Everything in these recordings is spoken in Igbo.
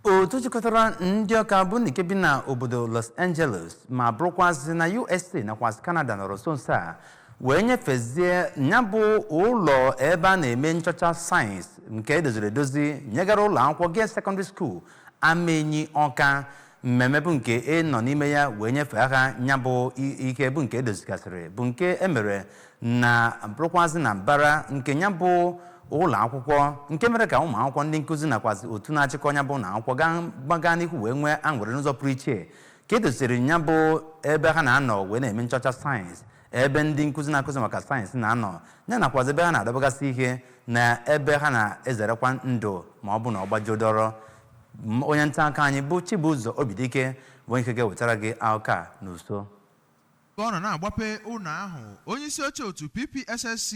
otu jikọtara ndị ọka bụ ndị nke bi na obodo los angeles ma bụrụkwazị na usa nakwazị canada nọrọ nso nso a wee nyefezie ya bụ ụlọ ebe a na-eme nchọcha sayensị nke edoziri edozi nyegara ụlọ akwụkwọ girls secondary school amenyi ọka mmemme bụ nke e nọ n'ime ya wee nyefee ha ya bụ i- ike bụ nke edozigasịrị bụ nke emere na bụrụkwazị na mbara nke ya bụ ụlọ akwụkwọ nke mere ka ụmụ akwụkwọ ndị nkụzi nakwazi otu na-achịkọ ya bụ ụlọ akwụkwọ gaa gbaga n'ihu wee nwee aṅụrị n'ụzọ pụrụ iche ka e doziri ya bụ ebe ha na-anọ wee na-eme nchọcha sayensị ebe ndị nkụzi na-akụzi maka sayensị na-anọ ya nakwazi ebe ha na-adọbagasị ihe na ebe ha na-ezerekwa ndụ ma ọ bụ na ọ gbajuo dọrọ M- onye nta akụkọ anyị bụ Chibuzo Obidike bụ onye nke ga-ewetara gị akụkọ a n'uju Oge ọ nọ na-agbape ụnọ ahụ, onyeisi oche otu PPSSC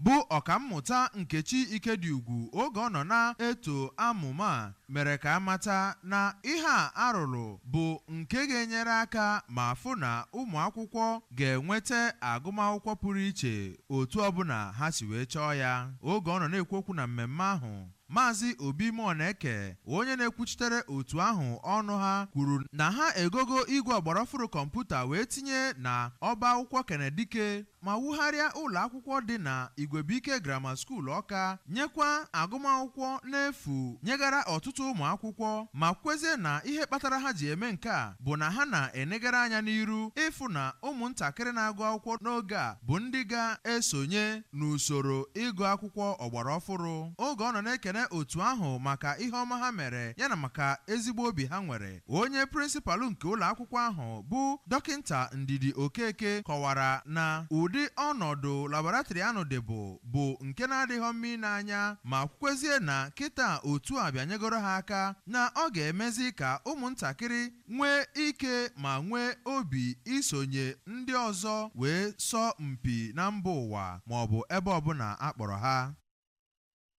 bụ Ọkammụta Nkechi Ikediugwu oge ọ nọ na-eto amụma a mere ka a mata na ihe a a rụrụ bụ nke ga-enyere aka ma fụ na ụmụakwụkwọ ga-enweta agụmakwụkwọ pụrụ iche otu ọbụna ha si wee chọọ ya. Oge ọ nọ na-ekwu okwu na mmemme ahụ, Maazị Obi Muoneke, onye na-ekwuchitere otu ahụ ọnụ ha, kwuru na ha egogo igwe ọgbaraọfụrụ kọmputa wee tinye na ọba akwụkwọ Kenneth Dike, ma wugharịa ụlọakwụkwọ dị na Igwebuike Grammar School Ọka, nyekwa agụmakwụkwọ n'efu nyegara ọtụtụ ụmụakwụkwọ, ma kwuezie na ihe kpatara ha ji eme nke a bụ na ha na-enegara anya n'iru ịfụ na ụmụntakịrị na-agụ akwụkwọ n'oge a bụ ndị ga-esonye n'usoro ịgụ akwụkwọ ọgbara ọfụrụ. Oge ọ nọ na-ekene otu ahụ maka ihe ọma ha mere ya na maka ezigbo obi ha nwere, onye prịnsịpalụ nke ụlọakwụkwọ ahụ bụ Dọkịnta Ndidi Okeke kọwara na ụdị ọnọdụ laboratrị anụ dịbụ bụ nke na-adịhọ mma ine anya ma kwukwezie na kịta otu a bịanyegoro ha aka na ọ ga-emezi ka ụmụntakịrị nwee ike ma nwee obi isonye ndị ọzọ wee sọ mpi na mba ụwa maọbụ ebe ọbụna a kpọrọ ha.